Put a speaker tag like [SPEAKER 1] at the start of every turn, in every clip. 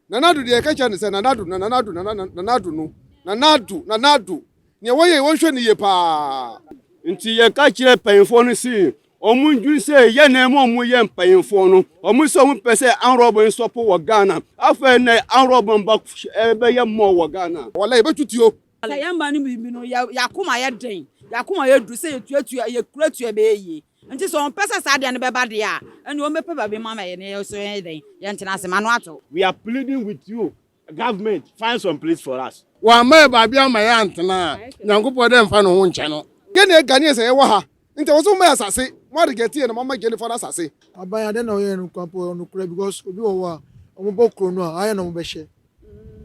[SPEAKER 1] Nana Addo deɛ yɛka kyerɛ no sɛ Nana Addo, Nana Addo, Nana Nana Nana Addo no, Nana Addo, Nana Addo, neɛ wɔyɛ yi wɔnhwɛ no yie paa. Nti yɛka
[SPEAKER 2] kyerɛ mpanyinfoɔ no se wɔn ndwene sɛ yɛn na ɛma wɔn yɛ mpanyinfoɔ no, wɔn sɛ wɔn pɛ sɛ anrɔb nsɔpo wɔ Ghana, afei nɛ anrɔb mba ɛbɛyɛ mɔ wɔ Ghana. Walai yɛbɛtu tuo.
[SPEAKER 1] Sɛ yɛn mma no bi bi
[SPEAKER 3] no, yɛn akoma yɛ den, yɛn akoma yɛ duru sɛ yɛtua tua, yɛkura tua bɛyɛ yie. Nti sɛ ɔmpɛ sɛ saa deɛ no bɛba deɛ a, ɛnneɛ ɔmmɛpɛ baabi mma ma yɛne yɛn nso yɛnyɛ dɛn? Yɛntena ase. M'ano ato. We are pleading with
[SPEAKER 2] you government find some place for us. Wamma yɛ baabi amma
[SPEAKER 1] yɛ antena a, Nyankopɔn dɛ mfa ne ho nkyɛ no. Yɛ ne yɛ Ghanaians na yɛ wɔ ha, nti ɛwɔ sɛ mo ma yɛ asase, mo a reject yɛ no mo ama Jennifer no asase. Aban yi adɛn na ɔyɛ no
[SPEAKER 4] kwa po nokorɛ because obi wɔ hɔ a ɔmo bɔ kuro no a ayɛ na ɔmo bɛ hyɛ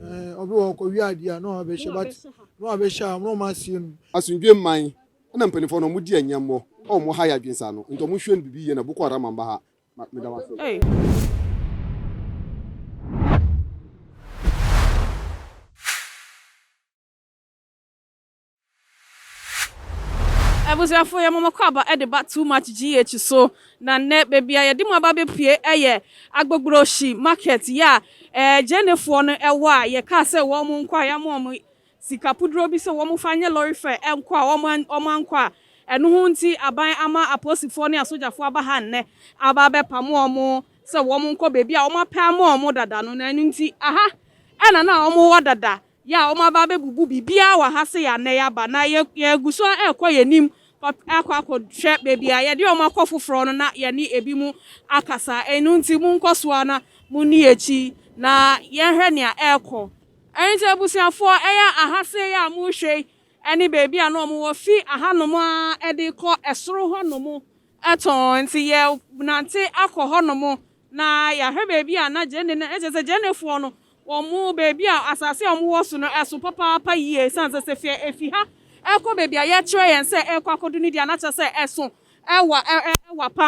[SPEAKER 4] ɛɛ ɔbi wɔ hɔ ɔkɔ wia adeɛ a na ɔbɛ hyɛ but na ɔbɛ hyɛ a na ɔmo asie no. Asomdwoe mman.
[SPEAKER 1] Ɛna mpaninfoɔ no ɔmo di ɛnyɛmmɔ a ɔmo ha yɛ adwen saa no nti ɔmo hwɛ no bibi yie na boko haram amba ha ma meda mo ase.
[SPEAKER 5] Abusuafoɔ yɛ mo mɔkɔ aba de ba too much GH so na nnɛ baabi a yɛde mo aba bɛpue yɛ Agbogbrohyi market yɛ a Gyenefoɔ no wɔ a yɛkaa sɛ wɔn nkɔ a yɛama wɔn sika puduro bi sɛ wɔmfa nyɛ lɔre fɛɛ nkɔ a wɔankɔ a ɛno ho nti aban ama apolisifoɔ ne asogyafoɔ aba ha nnɛ aba abɛpamo wɔn sɛ wɔnkɔ baabi a wɔapɛ ama wɔn dada no na ɛno nti aha na na wɔwɔ dada yɛ a wɔaba abɛbubu biribiara wɔ ha sɛ yɛ a nnɛ yɛaba na yɛgu so rekɔ yɛn anim akɔ akɔhwɛ baabi a yɛde wɔn akɔ foforɔ no na yɛne ebinom akasa ɛno nti monkɔ so ara na monni akyi na yɛnhwɛ nea ɛrekɔ. Enti abusuafoɔ, ɛyɛ aha sei a morehwɛ yi ne baabi a na wɔwɔ fi ahanom ara de rekɔ soro hɔnom tɔnn. Enti yɛnante akɔ hɔnom, na yɛahwɛ baabi a na Gyenee no, kyerɛ sɛ Gyeneefoɔ no, wɔn baabi a, asase a wɔwɔ so no, ɛso papaapa yie, ɛsiane sɛ sɛ fie ɛfi ha ɛkɔ baabi a yɛkyerɛ yɛn sɛ ɛrekɔ akɔdu no deɛ a, na kyerɛ sɛ ɛso ɛwa pa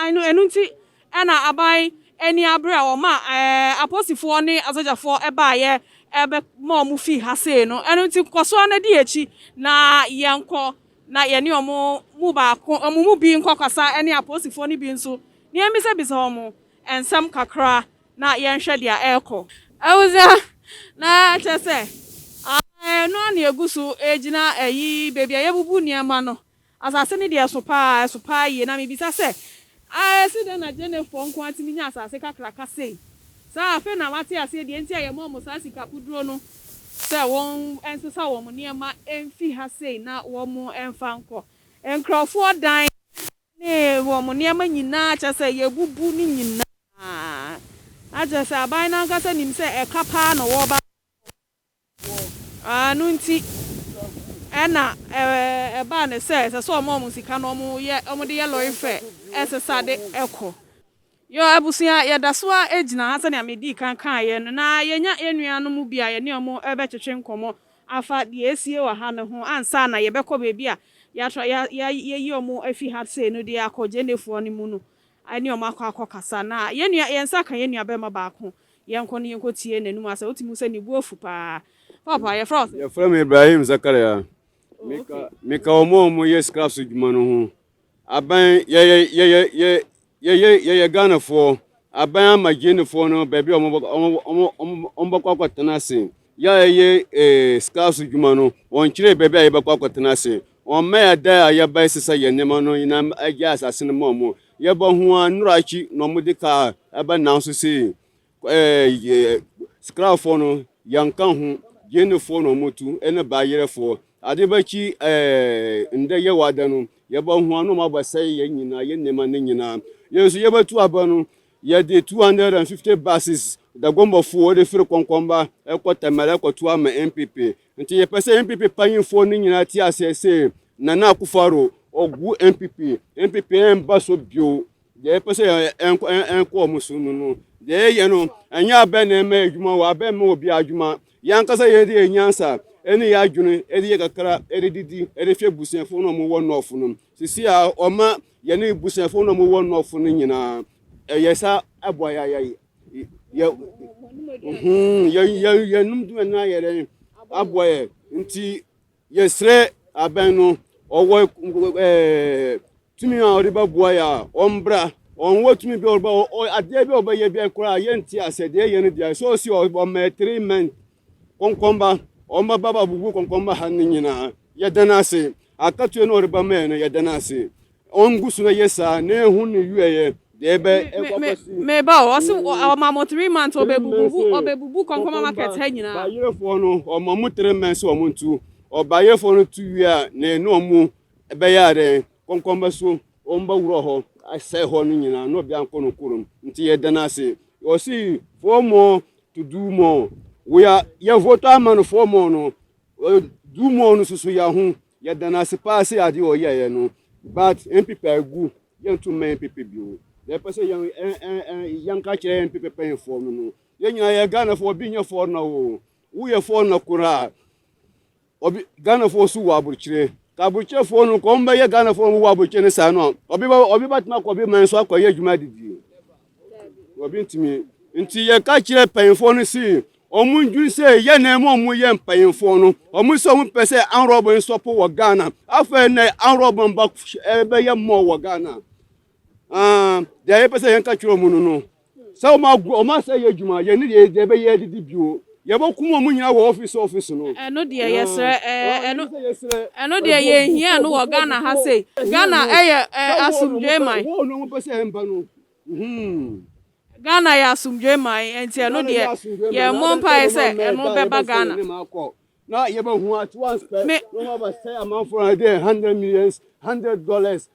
[SPEAKER 5] ara, ɛno nti, Ɛnna aban ani abere a wɔmaa apolisifoɔ ne asogyafoɔ baeɛ bɛmaa wɔfii ha sei no. Ɛno nti, kɔ so ara na di akyi na yɛnkɔ na yɛne wɔn mu baako, wɔn mu bi nkɔkasa ne apolisifoɔ no bi nso na yɛmmisa-bisa wɔn nsɛm kakra na yɛnhwɛ deɛ ɛrekɔ. Awusa, na kyerɛ sɛ, aah, ɛno ara na ɛgu so gyina ayi, baabi a yɛbubu nneɛma no. Asase no deɛ ɛso pa ara, ɛso pa ara yie. Na mebisa sɛ, Ah, ɛsi dɛn na Gyenefoɔ nko ara tumi nya asase kakraka sei? Saa, afei na mate aseɛ deɛ nti a yɛma wɔn saa sika kuduro no sɛ wɔnsesa wɔn nneɛma mfi ha sei na wɔmfa nkɔ nkurɔfoɔ dan ne wɔn nneɛma nyinaa, kyerɛ sɛ yɛbubu ne nyinaa. Na kyerɛ sɛ aban no ankasa nim sɛ ɛka pa ara na wɔreba abɛfa wɔn. Ɛno nti, ɛnna ɛbaa no sɛ ɛsɛ sɛ wɔma wɔn sika na wɔyɛ, wɔde yɛ lɔre fɛ ɛsesa de kɔ. Yɛn abusua, yɛda so ara gyina ha sɛnea midii kan kaeɛ no, na yɛanya yɛn nuanom bi a yɛne wɔn rebɛtwetwe nkɔmmɔ afa deɛ ɛresie wɔ ha no ho ansa na yɛbɛkɔ baabi a yɛatra, yɛayi wɔn afi ha sei no de akɔ Gyenefoɔ no mu no ne wɔn akɔ akɔkasa. Na yɛn nua, yɛn nsa ka yɛn nuabarima baako Yɛnkɔ na yɛnkɔ tie n'anum asɛm. Wotumi hu sɛ ne bo afu paa. Paapa, yɛfrɛ wo sɛ? Yɛfrɛ me Ibrahim
[SPEAKER 2] Zakaria. Meka, meka wɔn a wɔyɛ scrap so dwuma no ho. Aban, yɛyɛ, yɛyɛ, yɛ, yɛyɛ, yɛyɛ Ghanafoɔ. Aban ama Gyenefoɔ no baabi a wɔbɛkɔ, wɔn, wɔn, wɔbɛkɔ akɔtena ase. Yɛ a yɛyɛ eh, scrap so dwuma no, wɔnkyerɛ baabi a yɛbɛkɔ akɔtena ase. Wɔmma yɛn dan a yɛbae sesa yɛn nneɛma no nyinam agyae asase no ma wɔn. Yɛba ho a, nnora akyi na wɔde kaa ɛba nanso sei Skrafoɔ no, yɛnka ho, Gyenefoɔ na wɔtu, ɛne Baayerɛfoɔ. Ade bakyi nnɛ yɛ wada no, yɛba ho a na wɔabɛsɛe yɛn nyinaa, yɛn nneɛma no nyinaa. Yɛn nso yɛbɛtu aba no, yɛde 250 buses, Dagombɔfoɔ, wɔde firi Kɔnkɔnba ɛkɔ Tɛmɛrɛ ɛkɔto ama NPP. Nti yɛpɛ sɛ NPP panyinfoɔ no nyinaa te aseɛ sɛ Nana Akufo-Addo ɔgu NPP, NPP ɛmba so bio. Deɛ yɛpɛ sɛ ɛnkɔ ɛnkɔ wɔn so no no, deɛ yɛyɛ no ɛnyɛ abɛn na ɛma adwuma wɔ abɛn ma obi adwuma. Yɛn ankasa yɛn de yɛn nyansa ɛne yɛn adwene ɛde yɛ kakra ɛde didi ɛde hwɛ busuafoɔ no a wɔwɔ nɔɔfo no. Sisi a ɔma yɛne ebusuafo na ɔmo wɔ nɔfo no nyinaa ɛyɛ sa ɛboa yɛ ayɛ yɛ hmm yɛ yɛ yɛnum duma no ayɛ dɛ aboa yɛ nti yɛsrɛ abɛn no ɔwɔ ɛɛ tumi a ɔde bɛboa yɛ a ɔmbra ɔnwɔ tumi bi ɔba adeɛ bi ɔbɛyɛ bi koraa yɛnti asɛ deɛ yɛ no deɛ sɛ ɔsi ɔma three months Kɔnkɔnba, wɔn mmabaawa bubu kɔnkɔnba ha no nyinaa. Yɛda no ase. Akatua no a ɔreba ma yɛn no, yɛda no ase. Ɔngu so na yɛ saa na ehu ne wieɛ deɛ ɛbɛ ɛkɔ akɔsi. Meba o,
[SPEAKER 5] ɔsi ɔma mo three months ɔbɛbubu ɔbɛbubu kɔnkɔnba market ha nyinaa. Bayerefoɔ no
[SPEAKER 2] ɔma mo three months sɛ wɔn ntu. Ɔbayerefoɔ no tu wie a na ɛne wɔn ɛbɛyɛ adɛn Kɔnkɔnba so wɔn ba wura hɔ asɛe hɔ no nyinaa na ɔbea nkɔ no kurom nti yɛ dan ase ɔsi four more to do more wɔyɛ yɛ voto ama no four more no do more no soso yɛ ho yɛ dan ase paa sɛ ade ɔyɛ yɛ no but npp agu yɛn nto mmɛn npp bio na ɛpɛ sɛ yɛn ɛn yɛn ka kyerɛ npp pɛnfoɔ no no yɛn nyinaa yɛ ghana fo obi nyɛ fɔɔ na o woyɛ fɔɔ na koraa. Ɔbe Ghanafoɔ nso wɔ aborokyire. Ka aborokyerɛfoɔ no kɔn bɛyɛ Ghanafoɔ a wɔwɔ aborokyire no saa no a, ɔbe ba ɔbe batumi akɔ ɔbe man so akɔyɛ adwuma adidie. Ɔbe ntumi. Nti yɛka kyerɛ mpanyinfoɔ no si wɔn ndwin sɛ yɛ na ɛmu wɔn yɛ mpanyinfoɔ no. Wɔn sɛ wɔn pɛ sɛ anrɔbo nsɔpo wɔ Ghana. Afei na anrɔbo mba ɛbɛyɛ mɔ wɔ Ghana. Ah, deɛ yɛpɛ sɛ yɛn ka kyerɛ wɔn no no. sɛ wɔn agu wɔn asɛ yɛ adwuma yɛn ne deɛ deɛ bɛyɛ adidi bio yɛbɔ kum wɔn nyinaa wɔ ɔfisi ɔfisi no. ɛno deɛ yɛsrɛ
[SPEAKER 5] ɛɛ ɛno ɛno deɛ yɛn hia no wɔ ghana ha sei ghana ɛyɛ ɛɛ asomdwe man. wɔn wɔn wɔn pɛ sɛ ɛmba
[SPEAKER 2] no. ghana
[SPEAKER 5] yɛ asomdwe man ɛnti ɛno deɛ yɛn mmɔ mpa yɛ sɛ ɛno bɛba ghana. na
[SPEAKER 2] yɛbɛ hu at once pɛ na wɔn abɛsɛ amanfoɔ na deɛ hundred millions hundred dollars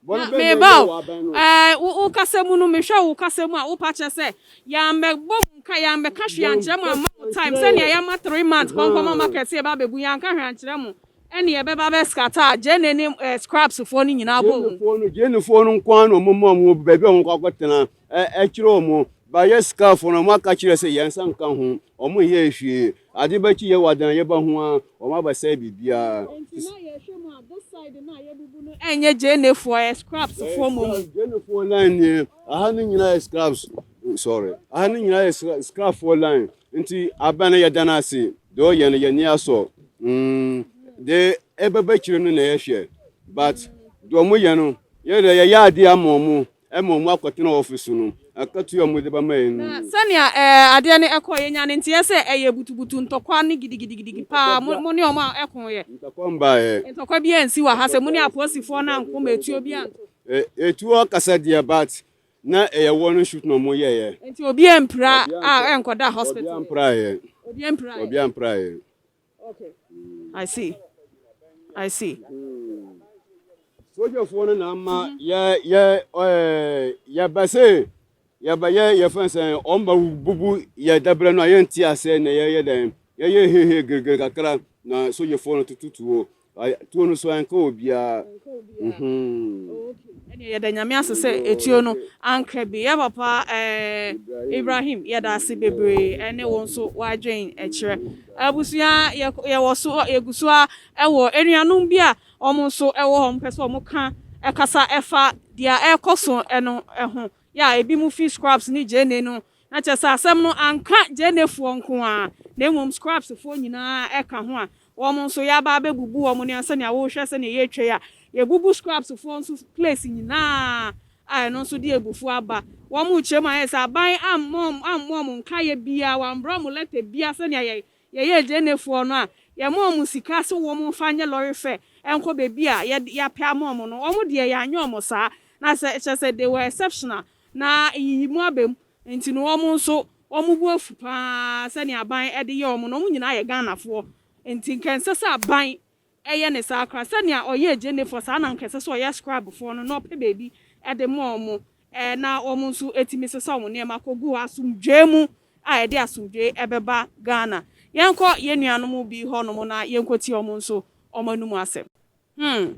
[SPEAKER 2] Na meba o,
[SPEAKER 5] ɛɛ, wo, wo kasa mu no, mehwɛ wo kasa mu a, wopa kyerɛ sɛ, yɛammɛbɔ mu nka, yɛammɛka hwee ankyerɛ mo, amma mo time, sɛnea yɛma three months kɔnkɔma market yɛba abɛbu, yɛanka hwee ankyerɛ mo, ɛnne ɛbɛba abɛ scatter a, Jane ne, ɛɛ, Scrubs foɔ no nyinaa bɔɔ mu. Jane foɔ no, Jane foɔ no nko
[SPEAKER 2] ara na wɔn maa wɔn baabi a wɔn kɔ akɔtena. Ɛkyerɛ wɔn, bɛayɛ sikafoɔ na wɔaka kyerɛ sɛ yɛn nsa nka ho, wɔn nyɛɛ hwee. Ade bɛkye yɛn wɔ adanyɛ ba ho ara, wɔn abɛsɛe biribiara. Enti na yɛhwɛ mu a, this side no
[SPEAKER 5] a yɛabubu no ɛnyɛ Gyenefoɔ, ɛyɛ Scrapsfoɔ mmom. Gyenefoɔ line
[SPEAKER 2] nie, aha no nyinaa yɛ Scraps, sorry, aha no nyinaa yɛ Scrapfoɔ line. Nti abɛn no yɛda no ase, deɛ ɔyɛ no yɛn ani asɔ, deɛ ɛbɛba akyire no na yɛhwɛ, but deɛ wɔyɛ no yɛn deɛ yɛyɛ adeɛ ama wɔn, Mmom wɔakɔtena ɔfasu no akatua a mode bɛma yɛn no mu. Na sɛnea adeɛ
[SPEAKER 5] no kɔɔ yɛ nyaa no nteɛ sɛ ɛyɛ butubutu, ntɔkwa ne gidigidigidigi paa, mo ne wɔn a ɛkooɛ. Ntɔkwa mbaeɛ.
[SPEAKER 2] Ntɔkwa biara nsi wɔ
[SPEAKER 5] ha sɛ mo ne apolisifoɔ no anko ma etuo biara nto. Etuo akasa
[SPEAKER 2] deɛ but na ɛyɛ warning shoot na wɔn yɛeɛ. Nti obiara mpira
[SPEAKER 5] a ɛnkɔda hospital. Obiara mpiraeɛ. Obiara
[SPEAKER 2] mpiraeɛ. Obiara mpiraeɛ.
[SPEAKER 5] I see. I see. Sogyafoɔ
[SPEAKER 2] no na ama yɛ yɛ yɛba se yɛbɛyɛ yɛfɛn sɛ wɔn ba bubu yɛ dabrɛ no a yɛnti aseɛ na yɛyɛ dɛn yɛyɛ hehe girigiri kakra na sogyafoɔ no tututuo Tuo no so anka obiara uhmm.
[SPEAKER 5] Ɛneɛ yɛda Nyame ase sɛ etuo no anka bi yɛ papa eh Ibrahim yɛda ase bebree ɛne wo nso w'adwen kyerɛ Abusua yɛwɔ so yɛgu so ara ɛwɔ anuanom bi a wɔn nso ɛwɔ hɔ wɔn pɛ sɛ wɔn ka ɛkasa ɛfa deɛ ɛrekɔ so no ho yɛ a ebinom fi Scrubs ne Gyenee no, na kyerɛ sɛ asɛm no anka Gyeneefoɔ nko ara, na mmom Scrubsfoɔ nyinaa ka ho a, wɔn nso yɛaba abɛbubu wɔn nea sɛnea wohwɛ sɛnea yɛretwa yi a, yɛabubu Scrubsfoɔ nso place nyinaa a ɛno nso de abufuo aba. Wɔn rekyerɛ mu a, ayɛ sɛ aban ammɔ wɔn nkaeɛ biara, wɔammerɛ wɔn lɛtɛ biara sɛnea Yɛyɛ Ghanɛ foɔ no a yɛma ɔmo sika se wɔmo nfa nyɛ lɔre fɛ nkɔ baabi a yɛapɛ ama ɔmo no ɔmo deɛ yɛanyɛ ɔmo saa na sɛ kyerɛsɛ they were exceptional na nyiyimu aba mu nti no ɔmo nso ɔmo bo afu paa sɛnea aban de yɛ ɔmo no ɔmo nyinaa yɛ Ghana foɔ nti nka ɛnsɛ sɛ aban Ɛyɛ ne saa koraa. Sɛnea ɔyɛ agyennefoɔ, saa na anka ɛsɛ sɛ ɔyɛ scribefoɔ no, na ɔpɛ baabi de ma wɔn, ɛɛ, na wɔn nso atumi sesa wɔn nneɛma kɔgu hɔ asomdwoeɛ mu a ɛde asomdwoeɛ bɛba Ghana. Yɛnkɔ yɛn nuanom bi hɔnom na yɛnkɔtie wɔn nso wɔn anom asɛm. Hmm.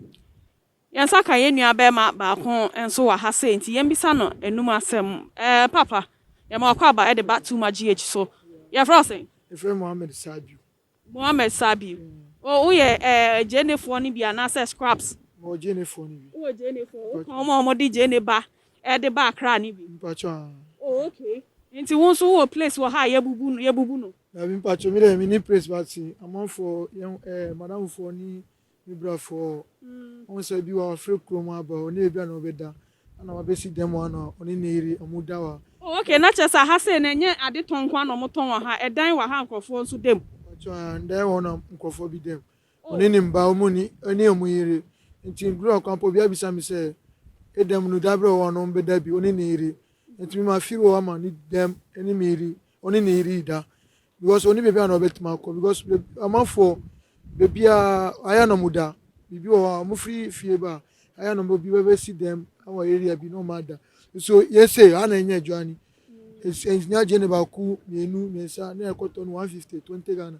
[SPEAKER 5] Yɛn nsa ka yɛn nua barima baako nso wɔ ha sei, nti yɛmmisa no anom asɛm. Ɛɛ, Papa, yɛma w'akwaaba de ba Tuma GH so. Yɛfrɛ wo sɛn? Yɛfrɛ me Mohammed
[SPEAKER 4] Sadio.
[SPEAKER 5] Mohammed Sabi, O, woyɛ ɛɛ Gyenefoɔ no bi anaasɛ Scrubs? Mewɔ Gyenefoɔ no
[SPEAKER 4] bi. Wowɔ Gyenefoɔ?
[SPEAKER 5] Woka wɔn a wɔde Gyene ba de ba Accra no bi? Mpacho, aah. O,
[SPEAKER 4] okay.
[SPEAKER 5] Nti wo nso wowɔ place wɔ ha a yɛbubu no, yɛbubu no? Dabi mpacho, me deɛ
[SPEAKER 4] menni place but amanfoɔ, yɛn ɛɛ Madamfoɔ ne Me brafo ɔ, ɔhu sɛ bi wa ɔfiri kuro mu aba hɔ, ne ebia na ɔbɛda, ana wabɛsi dɛm hɔ ana ɔne ne yere ɔmo da hɔ a. Oh okay, na kyerɛ sɛ
[SPEAKER 5] aha sei no ɛnyɛ ade tɔn nko ara na ɔmo tɔn wɔ ha, ɛdan wɔ ha a nkorɔfoɔ nso da mu? Mpakyɛw, aah, ɛdan wɔ
[SPEAKER 4] hɔ na nkorɔfoɔ bi da mu, ɔne ne mma, ɔmo nni, ɔne ɔmo yere, nti duru ɔkwan pa obi abisa me sɛ, Edɛm no, da bɛ wɔ hɔ a na ɔmo bɛda bi, ɔne ne yere, nti me ma firi hɔ ma ne dɛm, ɛne me yere, ɔne ne yere reda because ɔne baabi a na ɔbɛtumi akɔ because amanfoɔ baabiara ayɛ na ɔmo da biribi wɔ hɔ a ɔmo firi fie ba ayɛ na ɔmo bi bɛbɛsi dɛm wɔ area bi na ɔmo ada nso yɛsɛ ha na ɛnyɛ adwa ni ɛnyɛ agye ne baako mmienu mmiɛnsa na ɛkɔtɔ no one fifty twenty ghana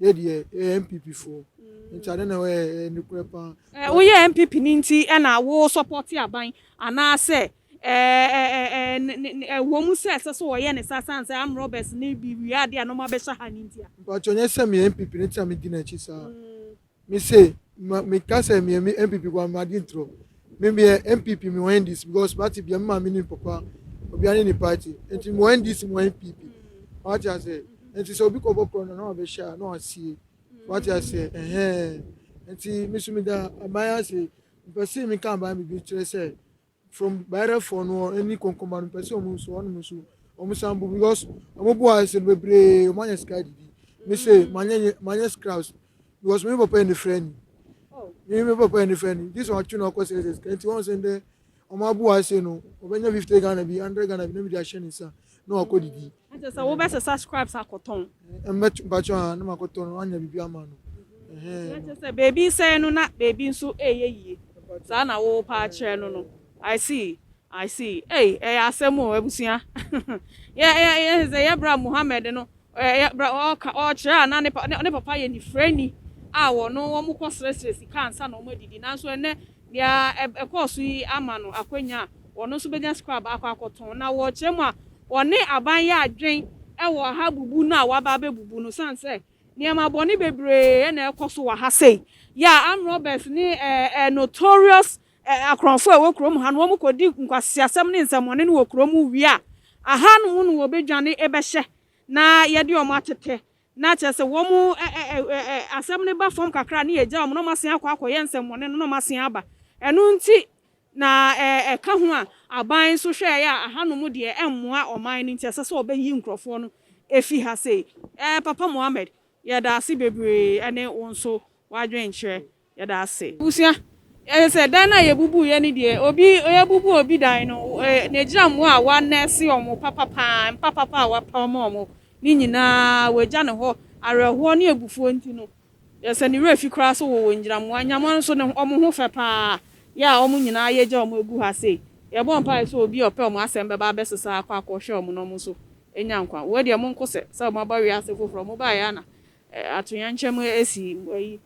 [SPEAKER 4] Yɛ deɛ yɛyɛ NPP foɔ nti ade na wɔyɛ ɛyɛ nokorɛ paa. Ɛɛ woyɛ NPP
[SPEAKER 5] ni nti ɛna wo sɔpɔte aban anaa sɛ ɛɛ ɛɛ ɛwɔ mu sɛ ɛsɛ sɛ wɔyɛ ne saa sane sɛ arm robbers ne bi wia adeɛ a na wɔn abɛhyɛ ha ni ntia. Mpakyɛw nyɛ sɛ meyɛ NPP
[SPEAKER 4] ni nti na medi n'akyi saa me se me ka sɛ meyɛ NPP foɔ a m'adwen trɔ Me meyɛ NPP me wɔ NDC because party bia me maa me nim papa obia ne ne party nti me wɔ NDC me wɔ NPP wate ase nti sɛ obi kɔbɔ korɔ no na wabɛhyɛ a na wasie wate ase ɛhɛn nti me so meda aban ase mpɛ se meka aban biribi kyerɛ sɛ from bayerɛfoɔ no ɛne kɔnkɔma no mpɛ sɛ ɔmo nso ɔnom nso ɔmo san bu because ɔmo bu ayɛ sɛ no bebree ɔmo anya sika didi me se manyɛ manyɛ scraps Because me papa yɛ ne frɛni. Me me papa yɛ ne frɛni. This one atwe no akɔ sɛ sɛ nti wɔn sɛ ndɛ wɔn abo ase no wɔbɛnya fifty Ghana bi hundred Ghana bi na mi de ahyɛ ne nsa na wakɔ didi. Ɛnkyɛ sɛ wɔbɛsɛ
[SPEAKER 5] subscribes akɔtɔn. Mbɛtɔ mpatsɔ
[SPEAKER 4] a na makɔtɔ no anya biribi ama no. Ɛnkyɛ sɛ
[SPEAKER 5] baabi resɛɛ no na baabi nso reyɛ yie saa na wo pa akyerɛ no no. I see I see ei ɛyɛ asɛm o abusua yɛ yɛ yɛn sɛ yɛbra Mohammed no Ɔyɛ berɛ a ɔreka, ɔrekyerɛ a na ne pa, ne papa yɛ nifirani a wɔno wɔkɔsrɛsrɛ sika ansa na wɔadidi. Nanso ɛnnɛ, deɛ ɛkɔɔ so yi ama no akwanya a wɔno nso bɛnya scrab akɔ akɔtɔn. Na wɔ kyerɛ mu a, wɔne aban yɛ adwen wɔ ha bubu no a wɔaba abɛbubu no sane sɛ nneɛma bɔne bebree na ɛrekɔ so wɔ ha sei. Yeah, armed robbers ne eh, eh, notorious Akorɔnfo a ɛwɔ kurom ha no, wɔkɔdi nkwaseasɛm ne nsɛmmɔne no wɔ kuro mu wie a, aha nom no wɔbɛdwane bɛhyɛ na yɛde wɔn atete, na kyerɛ sɛ wɔn asɛm no ba fam kakra a na yɛgya wɔn na wɔasan akɔ akɔyɛ nsɛmmɔne no na wɔasan aba. Ɛno nti na ɛka ho a aban nso hwɛeɛ a aha nom deɛ ɛmmoa ɔman no nti ɛsɛ sɛ wɔbɛyi nkurɔfoɔ no fi ha sei. Papa Mohammed, yɛda ase bebree ne wo nso w'adwenkyerɛ yɛda ase. Abusua, yɛsɛ sɛ dan no a yɛbubu yɛ no deɛ obi yɛbubu obi dan no na ɛgyina mmoa a wɔanɛɛse wɔn papa paa, mpa papa a wɔapɛ wɔn ma wɔn no nyinaa wɔagya no hɔ, awerɛhoɔ ne abufuo nti no yɛsɛ ne werɛ fi koraa sɛ wɔwɔ ngyinammoa, ngyinammoa no nso ne wɔn ho fɛ paa, yɛ a wɔn nyinaa yɛgya wɔn agu ha sei, yɛbɔ mpaeɛ sɛ obi a ɔpɛ wɔn asɛm bɛba abɛsesa akɔ akɔhwɛ wɔn na wɔn nso anya nkwa, wɔ deɛ monkɔ sɛ sɛ moaba wiase foforɔ, mobaeɛ a na atoyɛnkyɛm asi ayi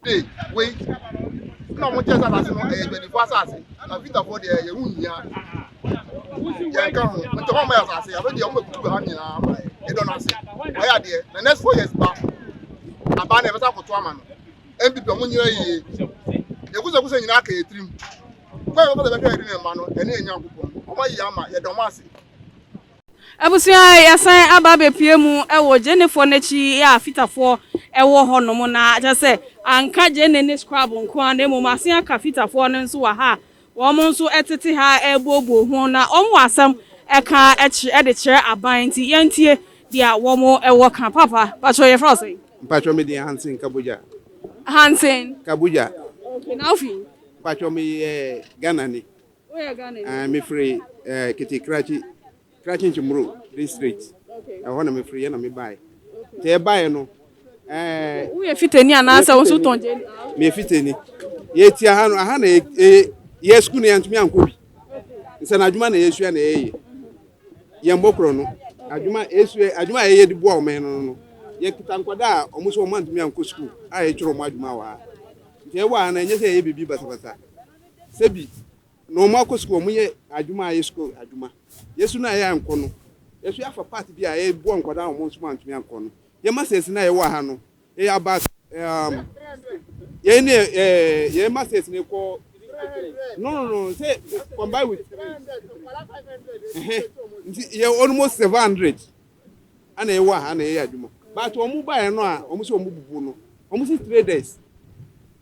[SPEAKER 5] Hey,
[SPEAKER 1] wait. Sɛ ɔmo kyɛ sɛ asase no ɛyɛ adwadifo asase, na Peterfoɔ deɛ yɛn ho nhia yɛn ka ho. Nti ɔmo ama yɛ asase, afei deɛ ɔmo bɛbutu wɔ ha nyinaa ama yɛ. Yɛdɔ no ase. Ɔyɛ adeɛ. Na next four years ba, abaa na yɛbɛsa akoto ama no. NPP ɔmo nyina yie. Yɛ kusakusa nyinaa ka yɛ tirim. Kwan yɛ bɛfa sɛ bɛhwɛ yɛde ne mma no, ɛne yɛ Nyankopɔn. Ɔmo ayɛ ama, yɛdɔ ɔmo ase.
[SPEAKER 5] Abusua a yɛasan aba abɛpue mu wɔ Gyenefoɔ no akyi a Fitafoɔ wɔ hɔnom no ara, kyerɛ sɛ, anka Gyene ne Scrabble nko ara na mmom wɔasan aka Fitafoɔ no nso wɔ ha a wɔn nso tete ha rebuobuo ho na wɔwɔ asɛm ka de kyerɛ aban nti, yɛntie deɛ wɔwɔ ka. Papa, mpakyɛ yɛfrɛ wo sɛn? Mpakyɛ me din Hansen
[SPEAKER 6] Kabogya. Hansen.
[SPEAKER 5] Kabogya.
[SPEAKER 6] Okay, na wofi?
[SPEAKER 5] Mpakyɛ meyɛ
[SPEAKER 6] Ghanani.
[SPEAKER 5] Mefiri
[SPEAKER 6] Kitty Krachi, Krachi Nchimuro district, ɛhɔ na mefiri
[SPEAKER 5] yɛ na
[SPEAKER 6] mebaeɛ. Nti ɛbaeɛ no ɛɛ.
[SPEAKER 5] Woyɛ fitani anaasɛ wo nso tɔn gyeni? Meyɛ fitani.
[SPEAKER 6] Yɛti aha no aha na yɛ sukuu no yɛntumi ankɔ bi. Nsɛnadwuma na yɛsua na yɛyɛ. Yɛmmɔ korɔ no. Adwuma yɛsua adwuma a yɛyɛ de boa ɔman no no. Yɛkita nkwadaa a wɔn so wɔn antumi ankɔ sukuu a yɛkyerɛ wɔn adwuma wɔ ha. Nti ɛwɔ ha no ɛnyɛ sɛ yɛyɛ biribi basabasa. sɛ bi na wɔn akɔ sukuu, wɔn yɛ adwuma a ɛyɛ sukuu adwuma. Yɛsu no a yɛ ankɔ no, yɛsu afa part bi a yɛ boa nkwadaa a wɔn nso antumi ankɔ no. Yɛ masters no a yɛwɔ ha no, yɛ yɛ about um, yɛ ne eh, yɛ masters no kɔ no no no sɛ combine with three nti yɛ almost seven hundred ana yɛwɔ ha na yɛyɛ adwuma but wɔn baeɛ no a wɔn sɛ wɔn bubu no wɔn si three days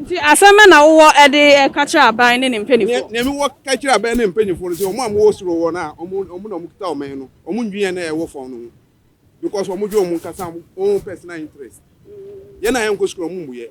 [SPEAKER 6] Nti
[SPEAKER 5] asɛm bɛ na wowɔ de ka kyerɛ aban ne ne mpanyinfoɔ? Nea nea mewɔ ka kyerɛ
[SPEAKER 6] aban ne mpanyinfoɔ no sɛ wɔn a wɔwɔ soro hɔ no a wɔn wɔn na wɔkita ɔman no wɔn ndwene na ɛwɔ fam no ho because wɔn dwe wɔn nkasa wɔn personal interest yɛn a yɛnkɔ sukuu no wɔn mmuyɛ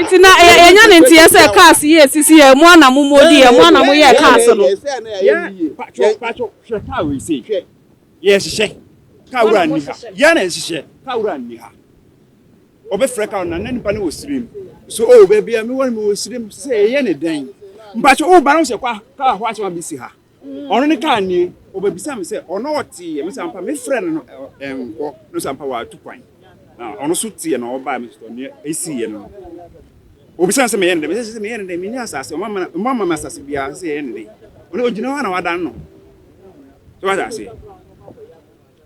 [SPEAKER 6] nti na yɛnya ne
[SPEAKER 5] nteɛ sɛ cars yi ɛsisi yɛ mo ana mo mɔdi yɛ mo ana mo yɛ cars no
[SPEAKER 7] yɛhyehyɛ car wura nni ha yɛn na yɛhyehyɛ car wura nni ha ɔbɛfrɛ car na na nipa no wɔ sirim so o baabi a mewɔ no mewɔ sirim sɛ ɛyɛ ne dɛn mpakyɛ woba no sɛ car hɔ asɛm a mesi ha Ɔno ne kaa nie. Ɔbɛbisa me sɛ ɔno ɔteeɛ. Me sɛ ampa me frɛ no no ɛnkɔ. No sɛ ampa watu kwan. Na ɔno so teeɛ na ɔbaeɛ. Me sɛ neɛ ɛsiiɛ no no. Ɔbisa me sɛ meyɛ no dɛn. Me sɛ sɛ sɛ meyɛ no dɛn. Menni asase. Ɔma me ɔma ma me asase biara. Sɛ sɛ yɛyɛ no dɛn. Ɔno ɔgyina hɔ a na wadane ne ho. So wate aseɛ.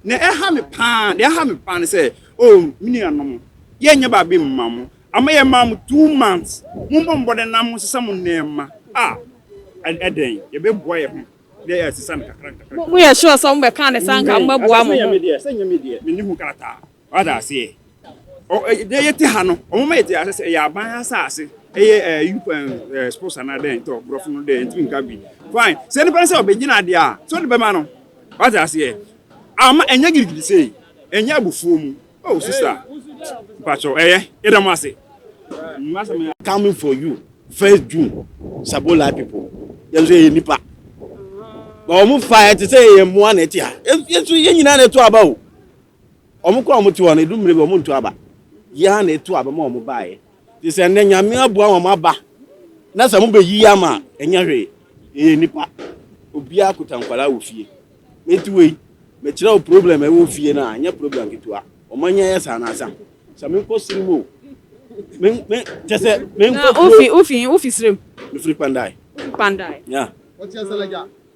[SPEAKER 7] Nea ɛha me paa, nea ɛha me paa ne sɛ, oh, me nuanom, yɛnyɛ baabi mma mo. Ama yɛmaa mo two months. Mommɔ mmɔden na monsesa mo nneɛma. Ah, ɛdɛn? Yɛbɛboa yɛn ho na yɛasesa no kakra nkakra. Moyɛ sure sɛ
[SPEAKER 5] mobɛka ne sɛ anka mobɛboa mo ho? Sɛ ɛnyɛ me deɛ, sɛ ɛnyɛ me deɛ, menni
[SPEAKER 7] ho krataa. Wate aseɛ? Ɔ, ɛ, deɛ yɛte ha no, wɔma yɛte aseɛ sɛ ɛyɛ aban asase. Ɛyɛ, ɛɛ, you can, ɛɛ, suppose anaa dɛn, tɔ, borɔfo no deɛ ntumi nka bi. Fine. Sɛ nipa no sɛ ɔbɛgyina adeɛ a, sɛ ɔde bɛma no. Wate aseɛ? Amma, ɛnyɛ girigiri sei. Ɛnyɛ abufuo mu. Oh, sista. Mpakyɛw, ɛyɛ. Yɛda mo ase. Mo asɛm yɛ.
[SPEAKER 8] Coming for you, first June, Sabolai people. Yɛn nso yɛyɛ nipa. But wɔn fa yɛ te sɛ yɛyɛ mmoa na ɛte ha. Yɛn nso yɛn nyinaa na ɛto aba o. Wɔn kɔ a wɔte hɔ no, edu mmerɛ bi wɔntu aba. Yɛn ara na yɛtu aba ma wɔn baeɛ. Te sɛ nnɛ Nyame aboa wɔn aba na sɛ mobɛyiyi ama a, ɛnyɛ hwee. Yɛyɛ nnipa. Obiara kuta nkwadaa wɔ fie. Enti wei, mekyerɛ wo problem a ɛwɔ fie no a, ɛnyɛ problem ketewa. Wɔanya yɛ saa anasa. Sɛ menkɔ sere mu o, me, me, kyɛ sɛ menkɔ Na kuro. wofi, wofi, wofi serem?
[SPEAKER 5] Mefiri Kpandae. Wofi
[SPEAKER 8] Kpandae? Yeah.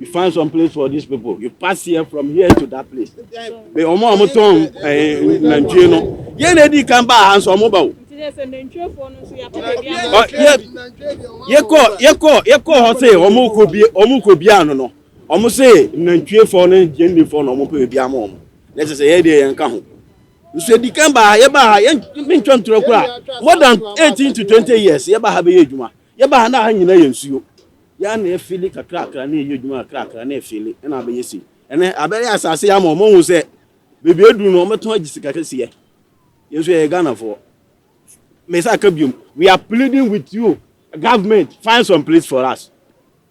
[SPEAKER 8] you find some place for these people you pass here from here to that place bɛ ɔmo a ɔmo tɔn ɛɛ nantwie no yɛn na edi kan ba ha nso ɔmo ba o. yɛkɔ yɛkɔ yɛkɔ hɔ se ɔmo kɔ bie ɔmo kɔ bie ano no ɔmo se nantwie fɔ ne yɛn ni fɔ na ɔmo pɛ ebi ama ɔmo na ɛsɛ sɛ yɛ deɛ yɛn ka ho nso edi kan ba ha yɛ ba ha yɛn mi ntwa ntura kura more than eighteen to twenty years yɛ ba ha bɛ yɛ adwuma. Yɛbaa ha no a ha nyinaa yɛ nsuo. Yɛ ara na yɛfeeli kakrakra na yɛyɛ adwuma kakrakra na yɛfeeli ɛna abɛyɛ sei. Ɛnɛ abɛyɛ asase ama wɔn ahu sɛ baabi aduru no wɔbɛtɔn agye sika kɛseɛ. Yɛn nso yɛyɛ Ghanafoɔ. Mesa aka biom, we are pleading with you government find some place for us.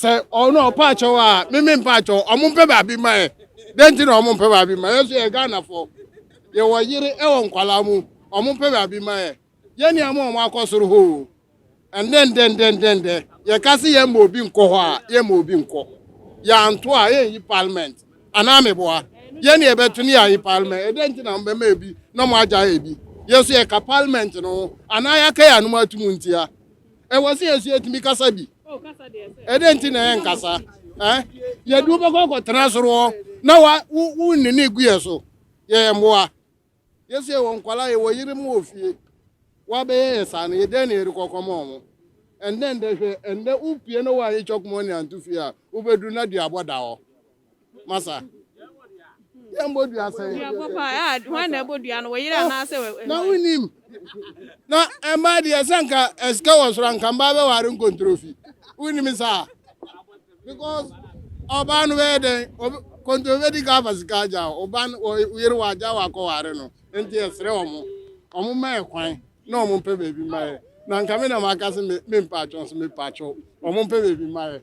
[SPEAKER 9] Sɛ ɔno oh, ɔpa akyɛw a meme mpa akyɛw ɔmo mpɛ baabi ma ɛ dɛn nti na ɔmo mpɛ baabi ma yɛ so yɛ Ghanafo yɛwɔ yere ɛwɔ nkwalaa mu ɔmo mpɛ baabi ma ɛ yɛne ama ɔmo akɔ soro hɔ o ɛndɛ ndɛ ndɛ ndɛ ndɛ yɛka se yɛma obi nkɔ hɔ a yɛma obi nkɔ yɛanto a yɛnyi parliament anaa meboa yɛne yɛbɛto ne yɛayi parliament ɛdɛn nti na mbɛma ebi na ɔmo agya ebi yɛ so yɛka parliament no ho anaa yɛaka yɛ anom atum ntia Ɛwɔ sɛ yɛsu yɛtumi kasa bi. Ɛdɛn nti na yɛnkasa? Eh? Yɛde wobɛkɔ akɔtena soro hɔ na wa wonni ne gu yɛ so. Yɛyɛ mmoa. Yɛsɛ yɛwɔ nkwala, yɛwɔ yere mu wɔ fie. Wabɛyɛ yɛ saa no, yɛ dɛn na yɛde kɔkɔm wɔn? Ɛndɛ ndɛ hwɛ, ɛndɛ wopie na woanyɛ chɔk mɔne anto fie a, wobɛduru na duabɔ da hɔ. Masa. Yɛn bɔ dua sɛn. Dua bɔ paa ɛɛ ah, wɔn na ɛbɔ
[SPEAKER 5] dua no wɔ yere oh, anaasɛ wɔ. Na wonim
[SPEAKER 9] na ɛmaa deɛ sɛ nka ɛsika wɔ soro nka mbaa bɛ ware nkontrofi wonim saa because ɔbaa no bɛyɛ dɛn kɔntoro bɛdi ka afa sika agya ɔba yere wɔ agya wɔ akɔ ware no nti ɛsrɛ ɔmo ɔmo ma ɛkwan na ɔmo mpɛ baabi ma yɛ na nka me na maka se me mpaatwɔn so me paatwɔn ɔmo mpɛ baabi ma yɛ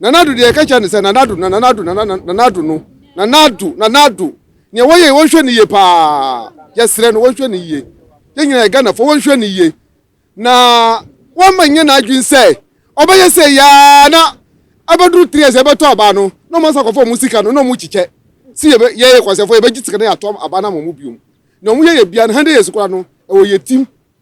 [SPEAKER 2] Nana Addo deɛ yɛka kyerɛ no sɛ Nana Addo, na Nana Addo, Nana Nana Addo no, Nana Addo, Nana Addo. Nea wɔyɛ wɔnhwɛ no yie paa. Yɛsrɛ no wɔnhwɛ no yie. Yɛn nyinaa yɛ Ghanafoɔ wɔnhwɛ no yie. Na wɔmma nyɛ n'adwene sɛ ɔbɛyɛ sɛ yaa na abɛduru three years ɛbɛtɔ aba no na wɔn asa kɔfa wɔn sika no na wɔn kyikyɛ. Si yɛ yɛyɛ kwansɛfoɔ yɛbɛgye sika na yɛatɔ aba no ama wɔn biom. Na wɔn yɛ yɛ bia no hundred years koraa no ɛwɔ yɛ tim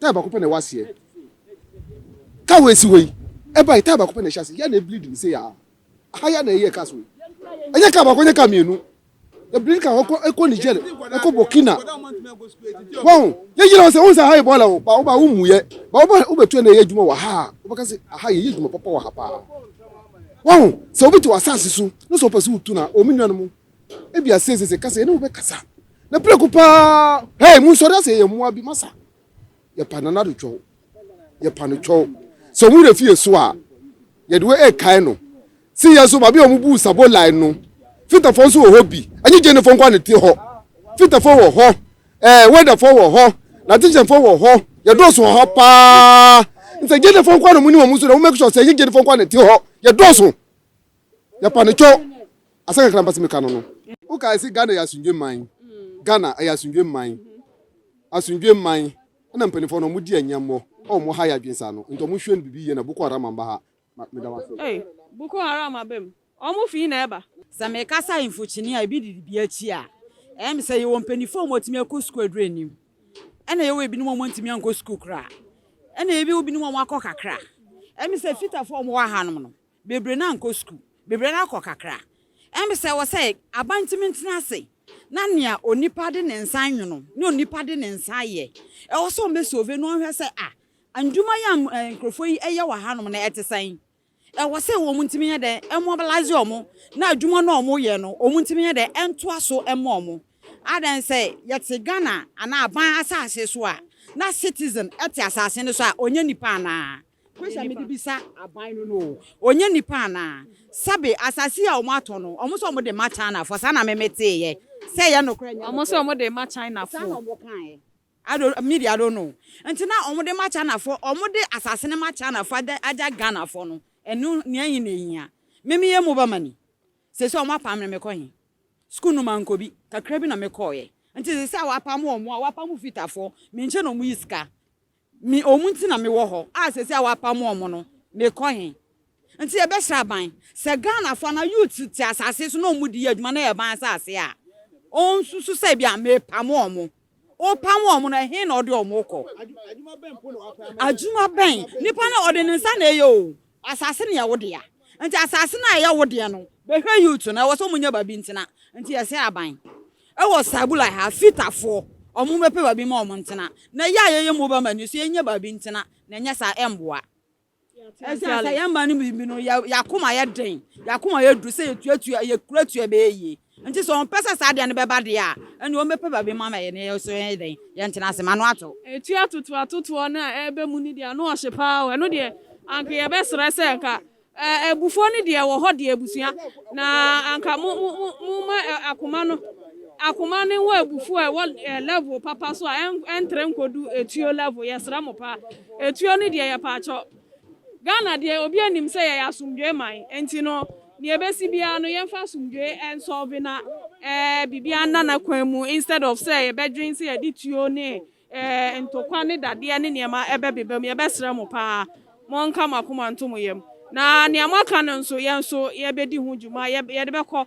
[SPEAKER 2] Tae baako pɛ na ɛwɔ aseɛ. Car wei si hɔ yi, ɛbae tae baako pɛ na ɛhyɛ aseɛ. Yɛ na ɛbleed no sei aa. Aha yɛ na ɛyɛ cars wei. Ɛnyɛ car baako, ɛnyɛ car mmienu. Ɛbleed car ɛkɔ ɛkɔ Niger, ɛkɔ Burkina. Wɔn, yɛyere wɔn sɛ wɔn sɛ aha yɛ bɔɔla o, ba wo ba wo mu yɛ, ba wo ba wo bɛtua na ɛyɛ adwuma wɔ ha a, wobɛka sɛ aha yɛyɛ adwuma papa wɔ ha paa. Wɔn, sɛ obi te wɔ asaase so, na sɛ ɔpɛ sɛ wotu no a, wɔn nuanom Ebia seesei sɛ ɛka sɛ yɛne wo bɛkasa na prɛko paa, hei, monsɔre asɛ yɛyɛ mmoa bi, masa. Yɛpa Nana Addo Twɔw. Yɛpa no Twɔw. Sɛ wɔn werɛ fi yɛn so a, yɛde wei rekae no. Se
[SPEAKER 10] yɛn nso, baabi a wɔbuu Sabo Line no, Fitafoɔ nso wɔ hɔ bi. Ɛnyɛ Gyenefoɔ nko ara na ɛte hɔ. Fitafoɔ wɔ hɔ, ɛɛ, Wɛdafoɔ wɔ hɔ, Nantehyɛnfoɔ wɔ hɔ, yɛdɔɔso wɔ hɔ paa. Nti sɛ Gyenefoɔ nko ara na monim wɔn nso deɛ, mommake sure sɛ ɛnyɛ Gyenefoɔ nko ara na ɛte hɔ. Yɛdɔɔso. Yɛ pa no kyo asɛ kakra mpa se meka no no. Wo kae se Ghana yɛ asomdwe man Ghana ɛyɛ asomdwe man asomdwe man ɛna mpaninfoɔ no ɔmo di ɛnyɛmɔ ɛwɔ ɔmo ha yɛ adwen saa no nti ɔmo hwɛ no bibi yie na Boko Haram amba ha ma meda mo ase. Ei Boko Haram
[SPEAKER 5] aba mu ɔmo fii na ɛba. Sɛ me kasa info
[SPEAKER 3] kyene a ebi didi bi akyi a ɛyɛ me sɛ yɛwɔ mpanifoɔ a ɔmo atumi akɔ sukuu aduru anim ɛna yɛwɔ ebinom a ɔmo ntumi ankɔ sukuu koraa ɛna ebi wɔ binom a ɔmo akɔ kakra ɛyɛ me sɛ fitafoɔ a ɔmo wɔ ahanom no Bebree no ankɔ sukuu. Bebree no akɔ kakra. Ɛmb sɛ ɛwɔ sɛ aban tumi ntena ase na nea onipa de ne nsa nwono, nea onipa de ne nsa ayɛ, ɛwɔ sɛ wɔbɛ solve na wɔnhwɛ sɛ ah, ndwuma yi a nkurɔfoɔ yi ɛyɛ wɔ hanom no ɛte sɛn? Ɛwɔ sɛ wɔn ntumi nyɛ dɛn ɛmobilise wɔn na adwuma no a wɔn yɛ no wɔn ntumi nyɛ dɛn ɛntoa so ɛmma wɔn. Adɛn sɛ yɛte Ghana anaa aban asase so a na citizen ɛte asase no so a ɔnyɛ nipa anaa? Question mede bisa aban no no ɔnyɛ nipa anaa? Sɛbe asase a ɔmo atɔ no ɔmo sɛ ɔmo de ma China foɔ saa na me me teeyɛ sɛ ɛyɛ nokorɛ ɛnyɛ nokorɛ? Ɔmo sɛ ɔmo de ma China
[SPEAKER 5] foɔ. Saa na
[SPEAKER 3] ɔmo kaeɛ. I don't know, me deɛ I don't know. Nti na ɔmo de ma China foɔ, ɔmo de asase no ma China foɔ agya agya Ghana foɔ no, ɛno nea ɛhe na ɛhia? Me me yɛ mobama ni, seesei ɔmo apam me me kɔ he? School no mankɔ bi, kakra bi na me kɔɔeɛ. Nti seesei a wapam ɔmo a wapam Fita foɔ, me nkyɛn na ɔmo yi sika. Me wɔn nti na mewɔ hɔ a seesei a wɔapam wɔn no, mekɔ he? Nti yɛbɛhyɛ aban. Sɛ Ghanafo anaa youths te asase so na wɔn de yɛ adwuma na ɛyɛ ban asase a, wɔnsusu sɛ ebia mepam wɔn. Wopam wɔn no, ɛhe na wɔde wɔn kɔ? Adwuma bɛn mpo na wɔapam wɔn? Adwuma bɛn? Nnipa no, wɔde ne nsa na ɛyɛ o. Asase no yɛ wo dea. Nti asase no a ɛyɛ wo deɛ no. Bɛhwɛ youth no ɛwɔ sɛ ɔmo nya baabi ntena nti yɛsɛ aban ɛwɔ sabula ha fita foɔ ɔmo bɛpɛ baabi ma ɔmo ntena na yɛ a yɛyɛ mobile money nso yɛnyɛ baabi ntena na ɛnyɛ saa ɛmboa ɛsiane sɛ yɛn mmaa no bi no yɛ yɛn akoma yɛ den yɛn akoma yɛ duru sɛ yɛtuatua yɛkura tua ɛbɛyɛ yie. Nti sɛ ɔmpɛ sɛ saa adeɛ no bɛba deɛ a, ɛnneɛ ɔmmɛpɛ baabi mma ma yɛne yɛn nso yɛnyɛ dɛn? Yɛntena ase. M'ano ato. Ɛtu atoto atotoɔ
[SPEAKER 5] no a ɛreba mu no deɛ, ano ɔhye pa ara o. Ɛno deɛ, anka yɛbɛsrɛ sɛ anka abufuo no deɛ ɛwɔ hɔ deɛ, abusua, na anka mo, mo, mo, momma akoma no, akoma no nwɔ abufuo a ɛwɔ level papa so a ɛntrɛ nkɔdu etuo level. Yɛsrɛ mo pa ara. Etuo no deɛ, yɛpaakyɛw, Ghana deɛ obiara nim sɛ yɛyɛ asomdwoeɛ man nti no deɛ ɛbɛsi biara no yɛmfa asomdwoeɛ nsɔlve na biribiara nna n'akwan mu instead of sɛ yɛbɛdwen sɛ yɛde tuo ne ntokwa ne dadeɛ ne nneɛma ɛbɛbeba mu. Yɛbɛsrɛ mo paa monka mo akoma nto mo yam na nea moaka no nso yɛn nso yɛbɛdi ho dwuma, yɛde bɛkɔ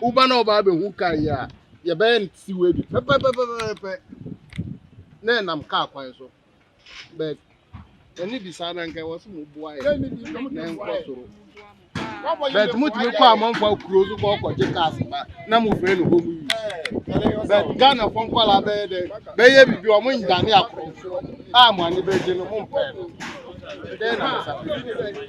[SPEAKER 9] Woba na wɔba abɛhu kaa yi a, yɛbɛyɛ no te sɛ wei bi pɛpɛpɛpɛpɛ na ɛnam kaa kwan so. But ɛne bi saa na nka ɛwɔ sɛ moboa yɛ na ɛnkɔ soro. But motumi kɔ amanfoɔ kuro so kɔ kɔgye cars ba na mofrɛ no home use. But Ghanafoɔ nkwadaa bɛyɛ dɛ bɛyɛ biribi wɔn nnyane akorɔmfoɔ a mo ani bɛgye no mompɛ no. Dɛn na mo nsa bɛka?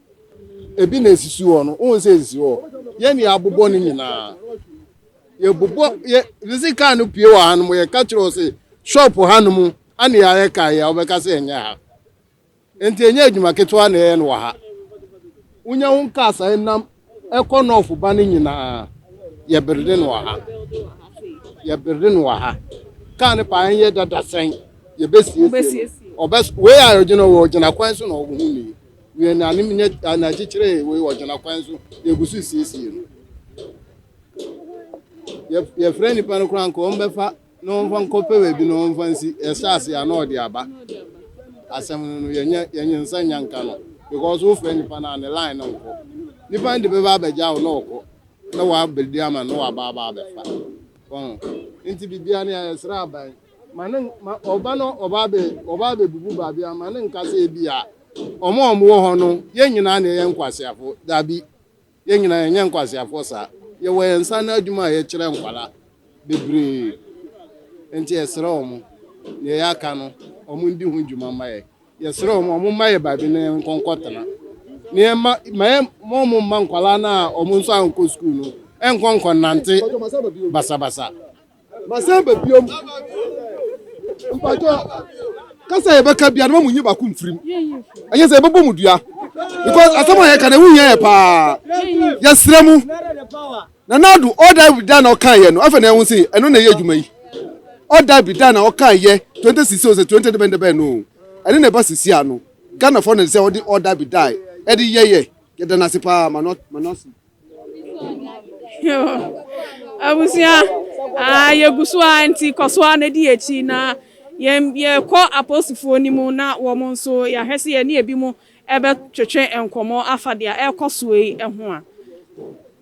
[SPEAKER 9] ebi na esisi hɔ no wohu sɛ esisi hɔ yɛn na yɛabobɔ no nyinaa yɛbobɔ yɛ sisi kaa no pie wɔ ha no mu yɛka kyerɛ sɛ shop ha no mu ana yɛayɛ kaa yɛ a wobɛka sɛ ɛnyɛ ha nti ɛnyɛ adwuma ketewa na ɛyɛ no wɔ ha wonya ho kaa saa nam ɛkɔ nɔɔfo ba no nyinaa yɛberde no wɔ ha yɛberde no wɔ ha kaa no paa ɛnyɛ dada sɛn yɛbɛsiesie no ɔbɛ wei a ɔgyina wɔ ɔgyina kwan so na ɔwɔ ho nie Nea nanom nyɛ a na ɛkyekyeree wei wɔ gyina kwan so na egu so siesie no. Yɛ yɛfrɛ nnipa no koraa nka wɔn bɛfa na wɔn fa nkɔpɛ baabi na wɔn fa nsi. Ɛhyɛ ase a na ɔde aba. Asɛm no no yɛnyɛ yɛnyɛ nsa nya nka no because wofrɛ nnipa no a ne line no nkɔ. Nnipa no de bɛba abɛgya wo na ɔkɔ na wabɛdi ama na waba aba abɛfa. Wɔn nti biribiara no yɛsrɛ aban. Ma ne, ma ɔba no, ɔba abɛ, ɔba abɛbubu baabi a, ma ne nka sɛ ebi a, wɔn a wɔwɔ hɔ no, yɛn nyinaa na yɛyɛ nkwaseafo. Dabi, yɛn nyinaa yɛnyɛ nkwaseafoɔ saa. Yɛwɔ yɛn nsa ano adwuma a yɛkyerɛ nkwadaa bebree. Enti yɛsrɛ wɔn, nea ɛyɛ aka no, wɔn ndi ho dwuma mma yɛn. Yɛsrɛ wɔn, wɔn mma yɛ baabi na yɛn nkɔnkɔ tena. Na yɛn mma, ma yɛn, ma wɔn mma nkwadaa no a wɔn nso ankɔ sukuu no, ɛnkɔ nkɔnante basabasa. Masan ba biom. Mpacho. Kasa yɛ bɛka bia no mu nyi baako mfirim. Ɛnyɛ sɛ ɛbɛbɔ mu dua. Because asɛm a yɛka na ɛho hia yɛ paa. Yɛsrɛ mu. Na nado ɔda bi da na ɔka yɛ no. Afɛ na ɛho se ɛno na ɛyɛ adwuma yi. Ɔda bi da na ɔka yɛ 2060 o sɛ 20 debɛn debɛn no. Ɛno na ɛba sisi ano. Ghana fɔ na ɛde sɛ ɔde ɔda bi da ɛde yɛ yɛ. Yɛda no ase paa ma no ma no ase.
[SPEAKER 5] Abusua, ah yɛgu so ara nti kɔ so ara na di akyi na yɛn yɛkɔ aposifoɔ no mu na wɔn nso yɛahwɛ sɛ yɛne ebi mu ɛbɛtwetwe nkɔmmɔ afa deɛ ɛrekɔ soɔ yi ho a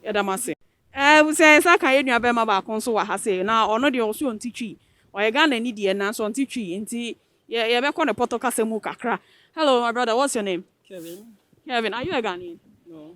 [SPEAKER 5] yɛda mo ase. Abusua yɛn san ka yɛn nua bɛrima baako nso wɔ ha sei na ɔno deɛ ɔso ɔnte twi ɔyɛ Ghana ni deɛ nanso ɔnte twi nti yɛ yɛbɛkɔ ne pɔtɔ kasa mu kakra. Hello my brother what's your name? Kevin. Kevin are you a Ghanaian? No.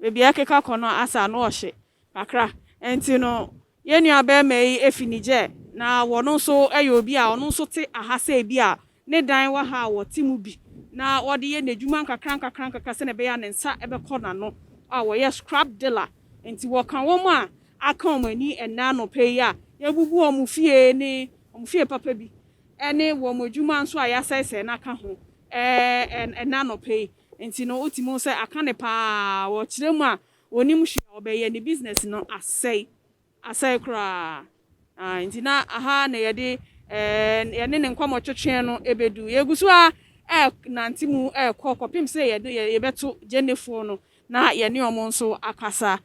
[SPEAKER 5] Baabi a ɛkeka kɔ no asɛ ano ɔhye kakra. Enti no, yɛn nuabarima yi fi Niger, na ɔno nso yɛ obi a ɔno nso te ha sɛ ebi a ne dan wɔ ha a ɔte mu bi, na ɔde yɛ n'adwuma nkakrankakra sɛnea ɛbɛyɛ a ne nsa bɛkɔ n'ano. A Wɔyɛ scrap dealer, enti wɔka wɔn a aka wɔn ani ɛnnɛ anɔpa yi a yɛabubu wɔn fie ne wɔn fie papa bi ne wɔn adwuma nso a yɛasɛesɛe no aka ho. Ɛnnɛ anɔpa yi nti no wotumi hu sɛ aka no paa wɔ kyerɛ mu a ɔnim hwee a ɔbɛyɛ ne business no asɛe asɛe koraa aah nti na aha na yɛde yɛne ne nkɔmmɔ twetweɛ no bɛdu yɛgu so ara ɛrenante mu ɛrekɔ kɔpem sɛ yɛde yɛbɛto Gyenefoɔ no na yɛne wɔn nso akasa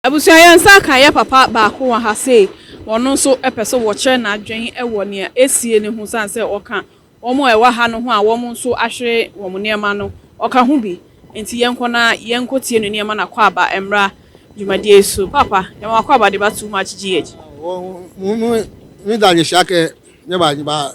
[SPEAKER 5] Abusua yɛn nsa aka yɛ papa baako wɔ ha sei, ɔno nso pɛ sɛ wɔkyerɛ n'adwene wɔ nea ɛresie no ho sane sɛ ɔka wɔn a ɛwɔ ha no ho a wɔn nso ahwere wɔn nneɛma no, ɔka ho bi. Enti yɛnkɔ na yɛnkɔtie no nneɛma na akwaaba mmra dwumadie yi so. Paapa, yɛma w'akwaaba de ba too much GH. Wɔn mu,
[SPEAKER 10] me da nhyira kɛ, nyɛ ba, nyɛ ba.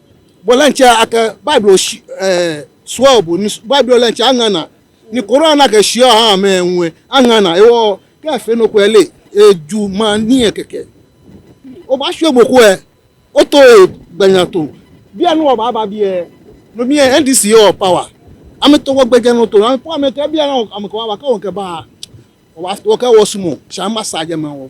[SPEAKER 10] Bɔlɛ nkyɛ akɛ Bible ɔhyi ɛɛ soa ɔbɔ ni Bible ɔlɛ nkyɛ aŋana ni Koran na kɛ hyia ɔha amɛ ɛnwɛ aŋana ewɔ kɛ ɛfɛ no kɔ ɛlɛ eju ma ni ɛ kɛkɛ ɔba hyɛ ɔbɔ kɔ ɛ ɔtɔ ɛ gbanya to bi ɛ no ɔba ba bi ɛ no mi ɛ NDC ɔ pawa ami tɔ wɔ gbɛjɛ no to ami pɔ ami tɔ ɛ bi ɛ no ami kɛ wa ba kɛ wɔ kɛ ba ɔ wa wɔ kɛ wɔ sumɔ shɛ ami ba sa jɛ mɛ wɔ.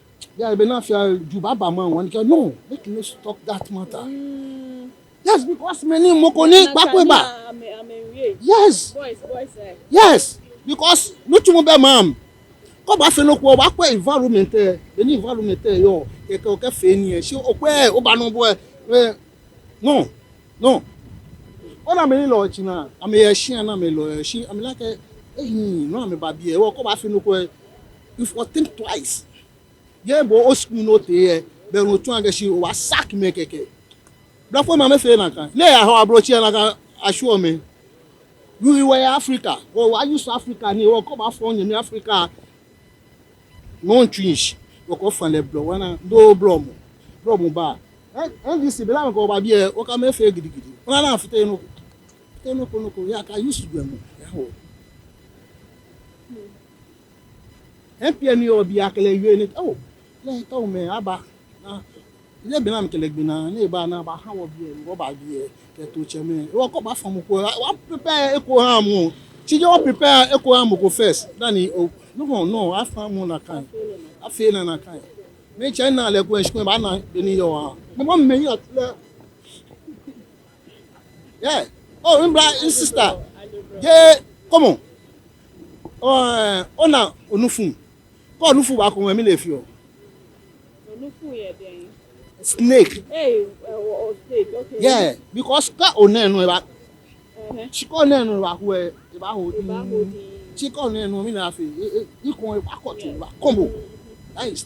[SPEAKER 10] Yes be na fia ju baba man one girl no make you no talk that matter yes because me ni moko ni gbakwe ba yes yes because no tumu bɛ maam kɔ ba fɛ no kɔ ba kɔ environment ɛ bɛ ni environment ɛ yɔ kɛkɛ o kɛ fɛ ni ɛ si o kɔ ɛ o ba no bɔ ɛ ɛ no no o na me ni lɔ ɛkyi na ame yɛ ɛkyi na me lɔ ɛkyi ame lakɛ ehin no ame ba bi ɛ wɔ kɔ ba fɛ no kɔ ɛ. If u think twice yɛ bɔ o school no te yɛ bɛ ro tun agɛ si o wa sack me kɛkɛ brafo ma me fee na ka ne ya hɔ abrokyɛ na ka asure me u i wɛ Africa o wa use Africa ni o kɔ ba fɔ nyami Africa non twins o kɔ fa lɛ blɔ wana do blɔ mo blɔ mo ba eh NDC bela me kɔ ba biɛ o ka me fee gidigidi ona na fite no fite no ko no ko ya ka use dwɛ mo ya hɔ. Mpia ni ɔ bia kele wie ni ɔ le ɔ mɛ a ba na ye bina mi kele gbi na ni ba na ba ha wɔ biɛ ni wɔ ba biɛ kɛ to cɛ mɛ e wɔ kɔ ba fɔ mu ko a wa prepare e ko ha mu ci jɛ wɔ prepare e ko ha mu ko first na ni ɔ no hɔ no a fa mu na kan a fe na na kan mi cɛ na lɛ ko ɛ shikun ba na be ni yɔ a. Ni bɔ mɛ yi a ti lɛ. Yeah. Oh, in bra, in sister. Yeah, come on. Oh, eh, oh na onufum. Ko onufum ba ko me na efi o. Onufum
[SPEAKER 5] ye den. Snake. Hey, oh, snake. Okay. Yeah, because
[SPEAKER 8] ka onen no ba. Uh-huh. She call onen no ba ko e ba ho. E ba ho. She call onen no me na afi. E e ko e ba ko to ba combo. Nice.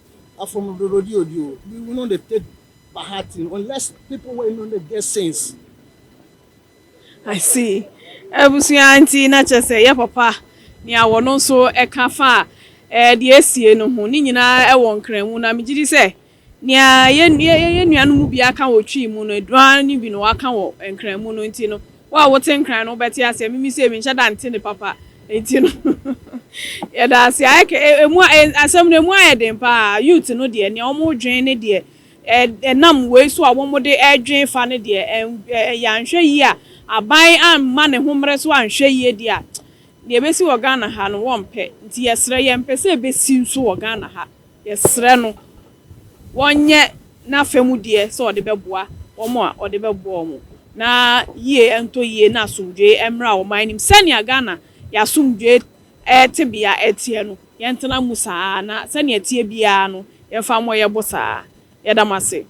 [SPEAKER 8] Afom dorodi odi o bi we no dey take by heart in unless people wey no dey get sense.
[SPEAKER 5] I see abusua nti na kyerɛ sɛ ɛyɛ papa nea wɔno nso ɛka fa deɛ asie no ho ne nyinaa ɛwɔ nkranmu na megyedi sɛ nea yɛn nuanom mu biara ka wɔ Twi mu no aduane bi na waka wɔ nkranmu no nti no Wo a wote nkran no wobɛte aseɛ mimi sei menhyɛ da nte ne papa nti no yɛda ase ayɛ kɛ emu asɛm no emu ayɛ den paa youth no deɛ nea wɔn dwen ne deɛ ɛnam wei so a wɔn de ɛdwen fa no deɛ ɛyɛ anhwɛ yie a aban amma ne ho mmerɛ so anhwɛ yie deɛ a deɛ ɛbɛsi wɔ Ghana ha no wɔmpɛ nti yɛsrɛ yɛmpɛ sɛ ɛbɛsi nso wɔ Ghana ha yɛsrɛ no. wɔnyɛ n'afa mu deɛ sɛ ɔde bɛboa wɔn a ɔde bɛboa wɔn na yie ntɔ yie na asomdwoeɛ mmra wɔn anim. Sɛnea Ghana yɛn asomdwoeɛ tebea teɛ no, yɛntena mu saa ara na sɛnea ɛteɛ biara no, yɛmfa mmɔ yɛn bo saa ara. Yɛda mo ase.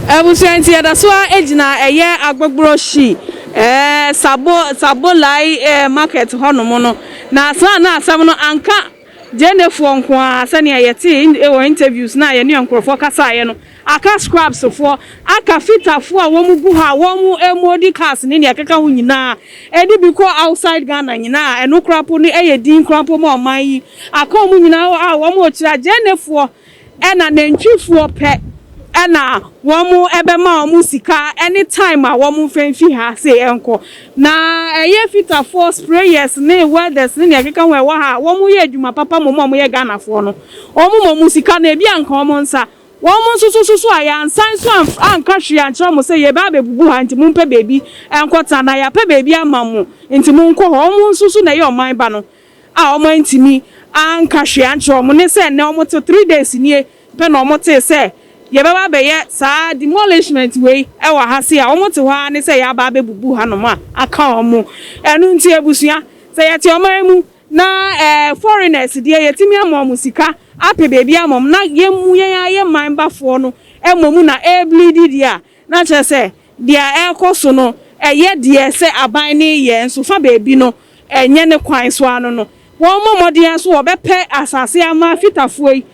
[SPEAKER 5] Abusua nti yɛda so ara gyina ɛyɛ Agbogborɔ Shi Sabo Sabolai market hɔnom no, na saa na asɛm no anka Gyenefoɔ nko ara sɛdeɛ yɛtee wɔ interviews no a yɛne nkorɔfoɔ kasaeɛ no, aka scrubs foɔ, aka fita foɔ a wɔn gu hɔ a wɔn modi cars ne deɛ ɛkeka ho nyinaa, ɛde bi kɔ outside Ghana nyinaa a ɛno koraa mpo no yɛ din koraa mpo ma ɔman yi, aka wɔn nyinaa a wɔn rekyerɛ a Gyenefoɔ. Ɛna nantwifoɔ pɛ na wɔn bɛma wɔn sika ne time a wɔn mfa mfi ha se nkɔ. Na ɛyɛ fitafoɔ, sprayers ne welders ne nea ɛkeka ho a ɛwɔ ha a wɔn yɛ adwuma papa mmom a wɔn yɛ Ghanafoɔ no, wɔn ma wɔn sika no ebi anka wɔn nsa. Wɔn nso so soso a yɛansan nso anka hwee ankyerɛ wɔn sɛ yɛreba abɛbubu ha nti mompɛ baabi nkɔtena anaa yɛapɛ baabi ama mo nti monkɔ hɔ. Wɔn nso so na ɛyɛ ɔman ba no. a wɔantumi anka hwee ankyerɛ wɔn ne sɛ nnɛ wɔte three days nie pɛ na wɔtee sɛ yɛbɛba abɛyɛ saa demolishment wei wɔ ha sei a wɔte hɔ ara ne sɛ yɛaba abɛbubu hanom a aka wɔn ɛno nti abusua sɛ yɛte ɔman mu na foreigners deɛ yɛtumi ama wɔn sika apɛ baabi ama wɔn na yɛn mu yɛn ara yɛn man bafoɔ no mmom na ɛrebleedi deɛ a Na kyerɛ sɛ, deɛ ɛrekɔ so no, ɛyɛ deɛ sɛ aban no reyɛ, nso fa baabi no, ɛnyɛ ne kwan so ara no no. Wɔmmɔ mmɔden ara so wɔbɛpɛ asase ama Fitafoɔ yi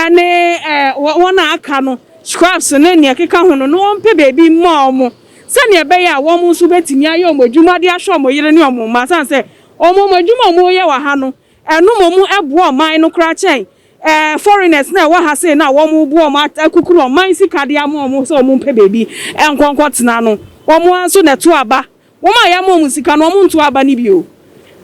[SPEAKER 5] ne wɔn a aka no, Scraps ne deɛ ɛkeka ho no, na wɔmpɛ baabi mma wɔn, sɛdeɛ ɛbɛyɛ a wɔn nso bɛtumi ayɛ wɔn adwuma de ahwɛ wɔn yere ne wɔn mma, ɛsiane sɛ wɔn adwuma a wɔreyɛ wɔ ha no, ɛno mmom boa ɔman no koraa kyɛn Ɛɛ foreigners na ɛwɔ ha sei na wɔn bo wɔn akukuru ɔman sika de ama wɔn sɛ wɔn mpɛ baabi nkɔ nkɔ tena no wɔn ara nso na ɛto aba wɔn a yɛama wɔn sika no wɔn nto aba no bi o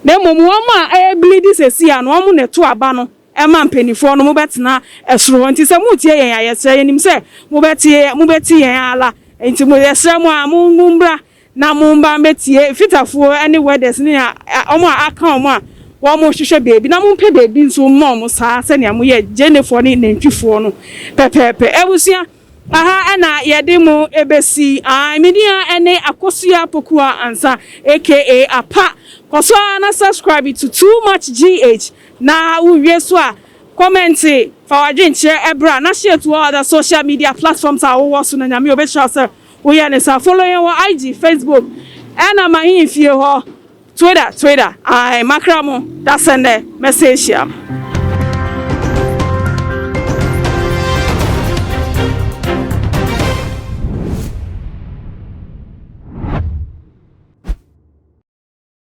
[SPEAKER 5] na mmom wɔn a ɛrebleedi sɛsi a no wɔn na ɛto aba no ɛma mpaninfoɔ no mobɛtena ɛsoro hɔ nti sɛ moretie yɛn a yɛsrɛ yɛnim sɛ mobɛte mobɛte yɛn ara nti mo yɛsrɛ mo a mo mo mbra Na momba mɛtie Fitafoɔ ne Werders ne a wɔn a aka wɔn a wɔrehwehwɛ baabi, na mompɛ baabi nso mma wɔn saa sɛnea moyɛ Gyenefoɔ ne Nantwifoɔ no pɛpɛɛpɛ. Abusua, aha na yɛde mo bɛsi. Ae, me din ara ne Akosua Pokuah Ansa aka Apa. Kɔ so ara na subscribe to Too Much GH, na wowie nso a, kɔmɛnte, fa w'adwene kyerɛ bra, na share to all other social media platforms a wowɔ so, na Nyame ɔbɛhyira wo sɛ. Wo yɛ ne sa follow yɛn wɔ IG, Facebook ɛna m'ahenni fie hɔ Twitter, Twitter ae makra mo dasɛ nnɛ mɛsɛ ahyia mo.